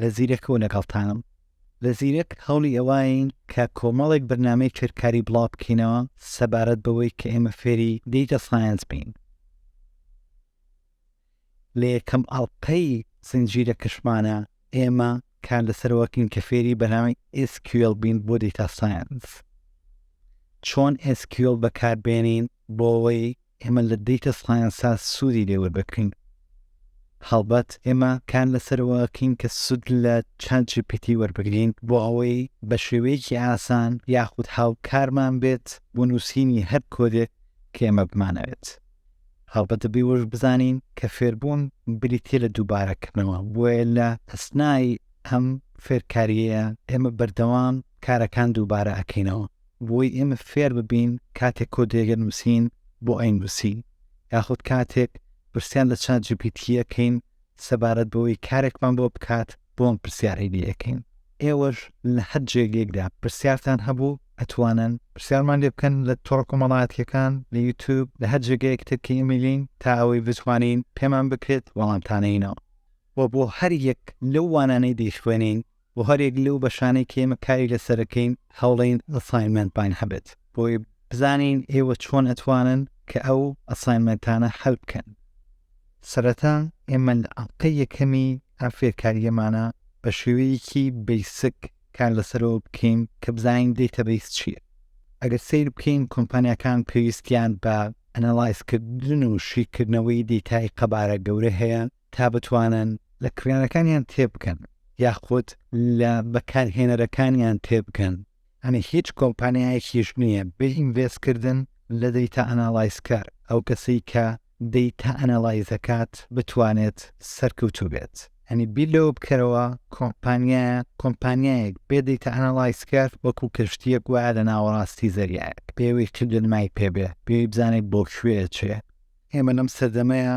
لە زیرەکەوە لەگەڵتانم. لە زیرەک هەوڵی ئەوەین کە کۆمەڵێک بەرنامەی فێرکاری بڵاو بکەینەوە سەبارەت بەوەی کە ئێمە فێری Data Science بین. لە یەکەم ئەڵقەی زنجیرەکەشمانە ئێمە کار لەسەرەوە بکەین کە فێری بەرنامەی SQL بین بۆ Data Science. چۆن SQL بەکاربێنین بۆ ئەوەی ئێمە لە دەیتە سایەنسا سوودی لێ وەردەگرین. هەڵبەت ئێمە کار لەسەرەوە ئەکەین کە سوود لە چات جی پی تی وەربگرین بۆ ئەوەی بە شێوەیەکی ئاسان یاخود هاوکارمان بێت بۆ نووسینی هەر کۆدێک کە ئێمە بمانەوێت. هەڵبەت دەبێ وەش بزانین کە فێربوون بریتییە لە دووبارەکردنەوە، بۆیە لە ئەسنای ئەم فێرکارییە ئێمە بەردەوام کارەکان دووبارە ئەکەینەوە. بۆی ئێمە فێر ببین کاتێک کۆد دێگە نووسین بۆ ئەین نووسین یاخود کاتێک پرسیان لە چات جیپیتیەکەین سەبارەت بەوەی کارێکمان بۆ بکات بۆم پرسیارەی لەکەین ئێوەش لە هەر جێگەیەکدا پرسیارتان هەبوو ئەتوانن پرسیارمان لێ بکەن لە تۆڕ کۆمەڵاتیەکان لە یوتوب لە هەر جێگەیەک ترکە ئەمیلین تا ئەوەی بتوانین پێمان بکرێت وەڵامتانەینەوە و بۆ هەر یەک لەو وانانەی دەیخوێنین بۆ هەریەک لەو بەشانەی کە ئێمە کاری لەسەر دەکەین هەوڵین ئەساینمێنتمان هەبێت بۆی بزانین ئێوە چۆن ئەتوانن کە ئەو ئەساینمێنتانە هەل بکەن سەرەتا ئێمە لە ئەڵقەی یەکەمی ئەم فێرکاریەمانە بە شێوەیەکی بیسک کار لەسەرەوە بکەین کە بزانین دەیتە بیس چییە ئەگەر سیر بکەین کۆمپانیەکان پێویستیان بە ئەنەڵایزکردن و شیکردنەوەی دیتای قەبارە گەورە هەیە تا بتوانن لە کڕیارەکانیان تێبگەن یاخود لە بەکارهێنەرەکانیان تێبگەن، یانی هیچ کۆمپانیایەکیش نییە بێ ئینڤێستکردن لە دەیتا ئەناڵایزکەر، ئەو کەسەی کە دەیتا ئەناڵایز دەکات بتوانێت سەرکەوتوو بێت، یانی بیر لەوە بکەرەوە کۆمپانیا کۆمپانیایەک بێ دەیتا ئەناڵایزکەر وەکو کەشتییەک وایە لە ناوەڕاستی زەریایەک، پێویست چ دەرمای پێبێ، پێویست بزانێت بۆ کوێ ئەچێ. ئێمە لەم سەردەمەیا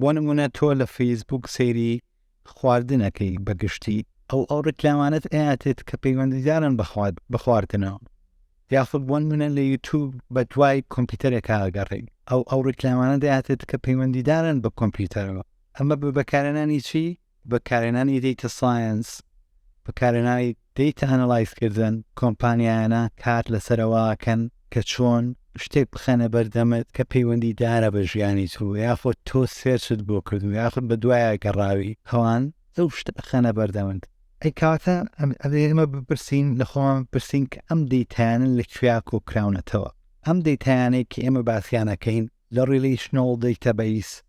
بۆ نمونە تۆ لە فەیسبووک سەیری خواردن ئەکەی بە گشتی ئەو ئەو ڕیکلامانەت ئەیاتێت کە پەیوەندیدارن بەخوات بخواردنەوە یاخود بۆن منە لە یوتوب بە دوای کۆمپیوتەرێکا ئەگەڕێی ئەو ئەو ڕیکلامانە دەیاتێت کە پەیوەندیدارن بە کۆمپیوتەرەوە ئەمە بە بەکارێنانی چی بەکارهێنانی دەیتە ساینس، بەکارهێنانی دەیتە ئەنەڵایز کردن، کۆمپانیایانە کار لەسەرەوە ئەکەن کە چۆن شتێک بخەنە بەردەمت کە پەیوەندی دارە بە ژیانی تۆ یاخود تۆ سێرچت بۆ کردو یاخود بە دوایە گەڕاوی ئەوان ئەو شتە ئەخەنە بەردەمت. ئەی کەواتە ئەبێ ئێمە بپرسین لە خۆمان بپرسین کە ئەم دەیتایانە لە کوێیا کۆکراونەتەوە؟ ئەم دەیتایانەی کە ئێمە باسیان ئەکەین لە ڕیلەیشنەڵ دەیتەبەیس،